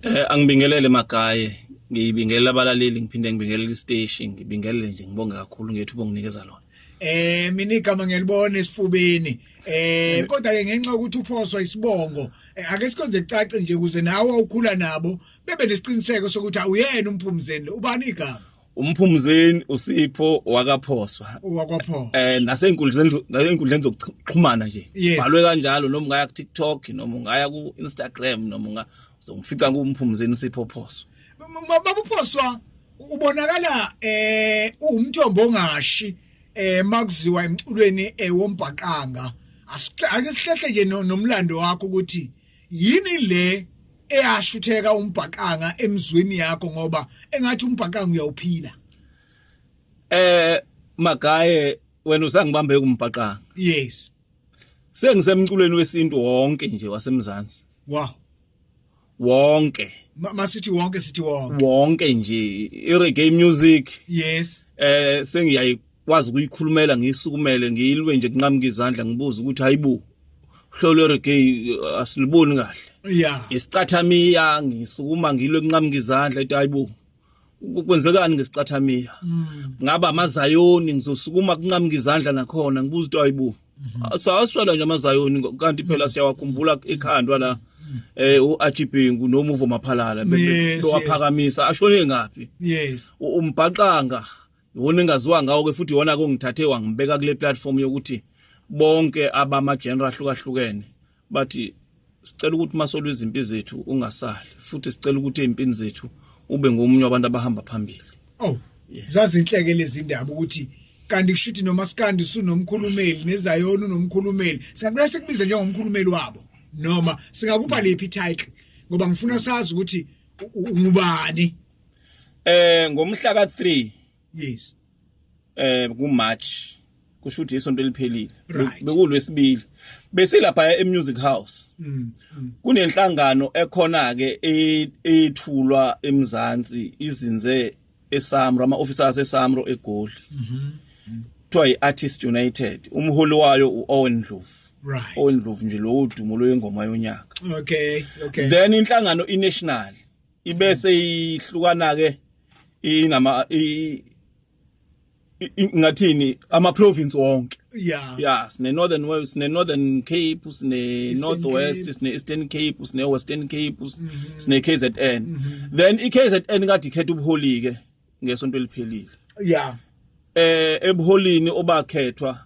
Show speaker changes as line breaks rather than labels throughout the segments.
Eh angibingelele magaye ngiyibingelela abalaleli ngiphinde ngibingelela isteshi ngibingelele nje ngibonge kakhulu ngethu bonginikeza lona eh mina igama
ngiyalibona esifubeni eh kodwa ke ngenxa ukuthi uphoswa isibongo eh, ake sikonze kucace nje kuze nawe ukhula nabo bebe nesiqiniseko sokuthi awuyena umphumzeni ubani igama umphumzeni
usipho wakaphoswa wakwaphoswa eh
nasenkundleni
nasenkundleni zokuxhumana nje balwe kanjalo
noma ungaya
ku TikTok noma ungaya ku Instagram noma unga uzongifica kumphumzeni usipho phoswa babuphoswa
ubonakala eh uwumthombo ongashi eh makuziwa emculweni ewombhaqanga eh, asihlehle nje nomlando wakho ukuthi yini le eyashutheka umbhaqanga emzweni yakho ngoba engathi umbhaqanga uyawuphila eh
magaye wena usangibambe kumbhaqanga yes
sengisemculweni
wesintu wonke nje wasemzansi wow wonke masithi
wonke sithi wonke wonke nje
i-reggae music yes eh
sengiyayi
kwazi ukuyikhulumela ngiyisukumele ngiyilwe nje kunqamuka izandla ngibuza ukuthi hayibo hlolo reggae uh, asiliboni kahle yeah
isicathamiya
ngisukuma ngilwe kunqamuka izandla ethi hayibo kwenzekani ngesicathamiya mm. ngaba amazayoni ngizosukuma kunqamuka izandla nakhona ngibuza ukuthi hayibo mm-hmm. sawaswela nje amazayoni kanti phela mm. siyawakhumbula ekhandwa la mm. eh uAjibhengu nomuvo maphalala bewaphakamisa ashone ngapi yes
umbhaqanga
iwona engaziwa ngawo ke futhi iwona kongithathe wangibeka kule platform yokuthi bonke abama genre ahlukahlukene bathi sicela ukuthi masolwe izimpi zethu ungasali futhi sicela ukuthi ezimpini zethu ube ngomunye wabantu abahamba phambili oh yeah.
zazinhleke lezi ndaba ukuthi kanti kushuthi noma sikandi sunomkhulumeli nezayona unomkhulumeli singacela sikubize njengomkhulumeli wabo noma singakupha lephi title ngoba ngifuna sazi ukuthi ungubani eh
ngomhla ka 3 yes
eh ku
March kusho ukuthi isonto eliphelile bekulwesibili besilapha e music house mm, mm. kunenhlangano ekhona ke e, ethulwa emzansi izinze eSamro ama officers eSamro egoli mhm kuthiwa iArtist United umholi wayo uOwen Ndlovu right Owen Ndlovu
nje lo
udumo loyengoma yonyaka okay okay
then inhlangano
iNational ibese ihlukana ke inama ngathini ama province wonke yeah yeah sine
northern wales
sine northern cape sine northwest sine eastern cape sine western cape mhm. sine KZN mhm. then iKZN kade ikhetha ubuholi ke ngesonto eliphelile
yeah eh
ebuholini obakhethwa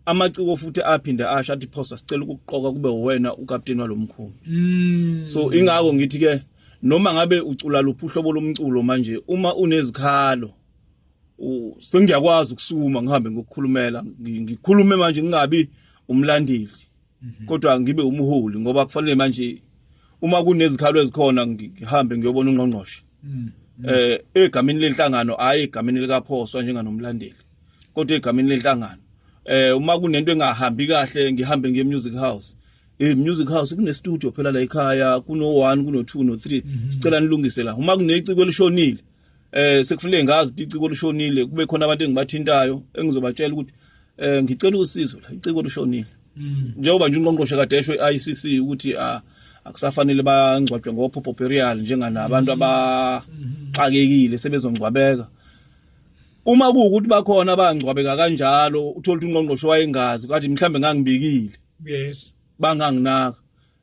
amaciko futhi aphinde asho athi phosa sicela ukuqoka kube wena ukapteni walomkhulu mm. so ingako ngithi ke noma ngabe ucula luphi uhlobo lomculo manje uma unezikhalo sengiyakwazi ukusuma ngihambe ngokukhulumela ngikhulume manje ngingabi umlandeli mhm. kodwa ngibe umholi ngoba kufanele manje uma kunezikhalo ezikhona ngihambe ngiyobona ungqongqoshe mhm. eh egameni lenhlangano hayi egameni likaphoswa njenganomlandeli kodwa egameni lenhlangano eh uma kunento engahambi kahle ngihambe ngiye music house eh music house kune studio phela la ekhaya kuno 1 kuno 2 no 3 mhm. sicela nilungise la uma kuneciko elishonile eh sekufuneka ngazi ukuthi iciko lushonile kube khona abantu engibathintayo engizobatshela ukuthi eh ngicela usizo la iciko lushonile mm. njengoba nje unqonqoshe kade esho iICC ukuthi ah akusafanele bangcwatshwe ngophopho burial njenganabantu mm-hmm. abaxakekile sebezongcwabeka uma kuwukuthi bakhona abangcwabeka kanjalo uthola ukuthi unqonqoshe wayengazi kathi mhlambe ngangibikile yes
banganginaka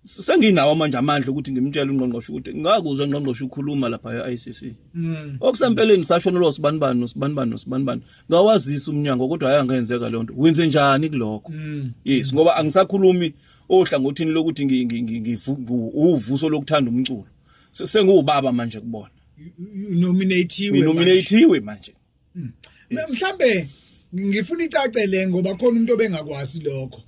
senginawo manje amandla ukuthi ngimtshele ungqongqoshe ukuthi ngakuzwa ungqongqoshe ukhuluma lapha e-ICC mm. okusempeleni sashona lo sibani bani nosibani bani nosibani bani ngawazisa umnyango kodwa hayi angenzeka le nto wenze njani kulokho mm. yes ngoba angisakhulumi ohlangothini lokuthi ngivuso lokuthanda umculo sengiwubaba manje kubona nominatiwe nominatiwe manje Hmm. Mhlambe
ngifuna icace le ngoba khona umuntu obengakwazi lokho.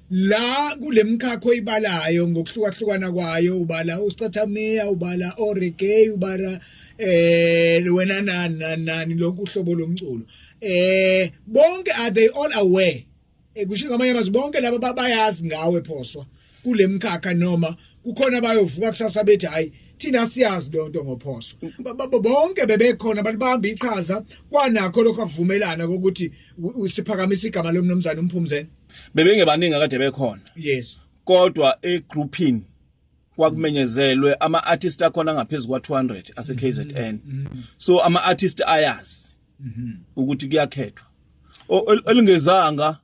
la kulemkhakho oyibalayo ngokuhlukahlukana kwayo ubala ustathamia ubala oregay ubala eh wena nani nani lokhu uhlobo lomculo eh bonke are they all aware Eh, kusho ngamanye amazwi bonke laba babayazi ngawe phoswa kule mkhakha noma kukhona bayovuka kusasa bethi hayi thina siyazi lonto ngophoso bonke bebekhona balibamba ichaza kwanakho lokho akuvumelana kokuthi usiphakamisa igama lomnumzane umphumzeni
bebengebaningi akade
bekhona
yes
kodwa
e
grouping
kwakumenyezelwe ama artist akhona ngaphezulu kwa 200 ase KZN mm-hmm. mm-hmm. so ama artist ayazi mhm. ukuthi kuyakhethwa elingezanga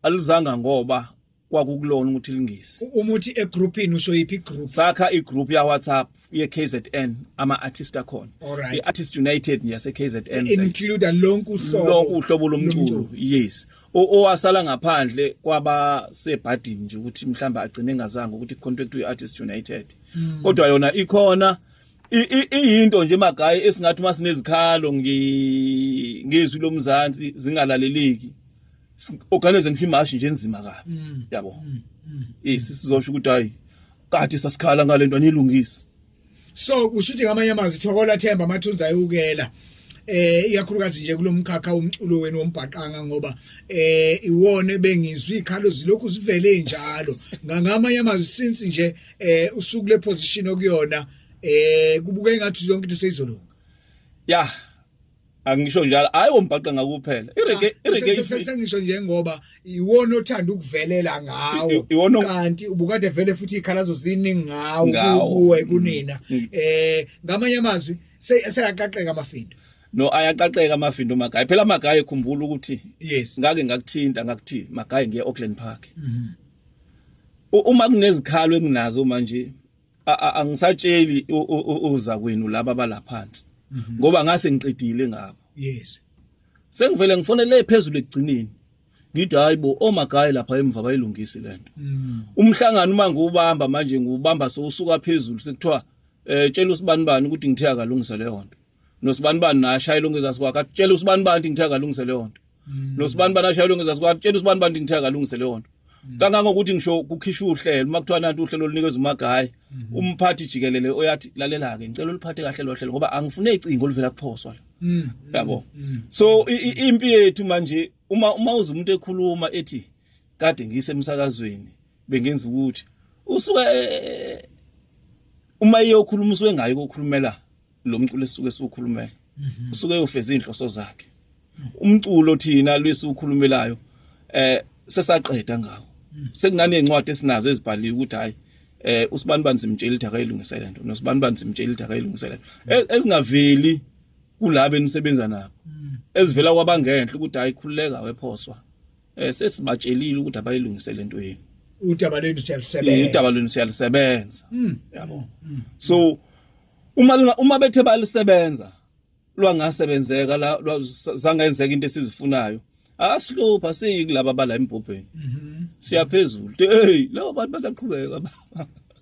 alizanga ngoba kwakukulona ukuthi lingisi uma uthi egroupini
usho yiphi igroup sakha igroup ya
WhatsApp ye KZN ama artist akhona i artist
united
yase KZN include lonke
uhlobo lonke uhlobo
lomculo yes owasala ngaphandle kwaba sebhadini nje ukuthi mhlamba agcine engazanga ukuthi contract we artist united hmm. kodwa yona ikhona iyinto nje magayi esingathi uma sinezikhalo ngezwi lomzansi zingalaleleki organize ngisho imashi nje enzima kabi mm. yabo mm, mm, yes sizosho ukuthi hayi kade sasikhala ngalento anilungisi so
kusho ukuthi ngamanye amazwi thokola themba amathunza ayukela eh ikakhulukazi nje kulomkhakha umculo wenu wombhaqanga ngoba eh iwona bengizwi ikhalo zilokhu zivele njalo ngangamanye amazwi since nje eh usuku le position okuyona eh kubuka engathi yonke into seyizolunga ya
angisho njalo hayi wombhaqa ngakuphela irege ah, irege sengisho
nje ngoba iwona othanda ukuvelela ngawo kanti ubukade vele futhi ikhalazo ziningi ngawo kuwe mm. kunina mm. eh ngamanye amazwi seyaqaqeka amafindo no ayaqaqeka
amafindo magayi phela magayi khumbula ukuthi yes ngake
ngakuthinta
ngakuthi magayi ngiye Auckland Park mm -hmm. uma kunezikhalo enginazo manje angisatsheli uza kwenu laba balaphansi mhm. ngoba ngase ngiqedile ngabo yes
sengivele
ngifonele phezulu ekugcineni ngithi hayibo omagayi lapha emva bayilungisi lento mm. umhlangano uma ngiwubamba manje ngiwubamba sowusuka phezulu sekuthiwa eh tshela usibani bani ukuthi ngithe akalungisa leyo nto nosibani bani naye ashayela ungezasi kwakhe atshela usibani bani ukuthi ngithe akalungise leyo nto mm. nosibani bani ashayela ungezasi kwakhe atshela usibani bani ukuthi ngithe akalungise leyo nto mm. kangangokuthi ngisho kukhishwa uhlelo uma kuthiwa nanti uhlelo olunikeza umagayi mm-hmm. umphathi jikelele oyathi lalela-ke ngicela uliphathe kahle lo hlelo ngoba angifune icingo oluvela kuphoswa la mm. yabo so impi yethu manje uma uma uze umuntu ekhuluma ethi kade ngise emsakazweni bengenza ukuthi usuke e, e, e, uma iyokhuluma usuke ngayo kokhulumela lo mculo esuke siwukhulumela mhm. usuke eyofeza inhloso zakhe umculo thina lwisi ukhulumelayo eh sesaqeda ngawo mhm. sekunani ezincwadi esinazo ezibhaliwe ukuthi hayi eh usibani bani simtshela ukuthi akayilungise lento nosibani bani simtshela ukuthi akayilungise lento e-, ezingaveli kulabo enisebenza nabo mhm. ezivela kwabangenhle ukuthi hayi khululeka wephoswa eh sesibatshelile ukuthi abayilungise lento yenu udaba lenu
siyalisebenza udaba lenu siyalisebenza
yabo so uma uma bethe balisebenza lwangasebenzeka la zangenzeka into esizifunayo asihlupha siyi kulaba bala embhobheni mhm. siyaphezulu hey labo bantu basaqhubeka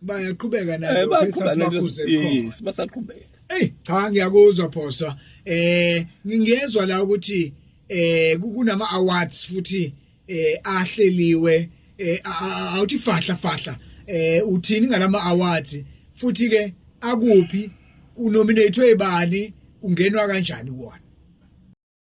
bayaqhubeka
eh, nabo sasibakhuze khona
basaqhubeka hey
cha ngiyakuzwa phosa eh ngingezwa la ukuthi eh kunama awards futhi eh ahleliwe eh awuthi fahla fahla eh uthini ngalama awards futhi ke akuphi unominate ebani ungenwa kanjani kuwona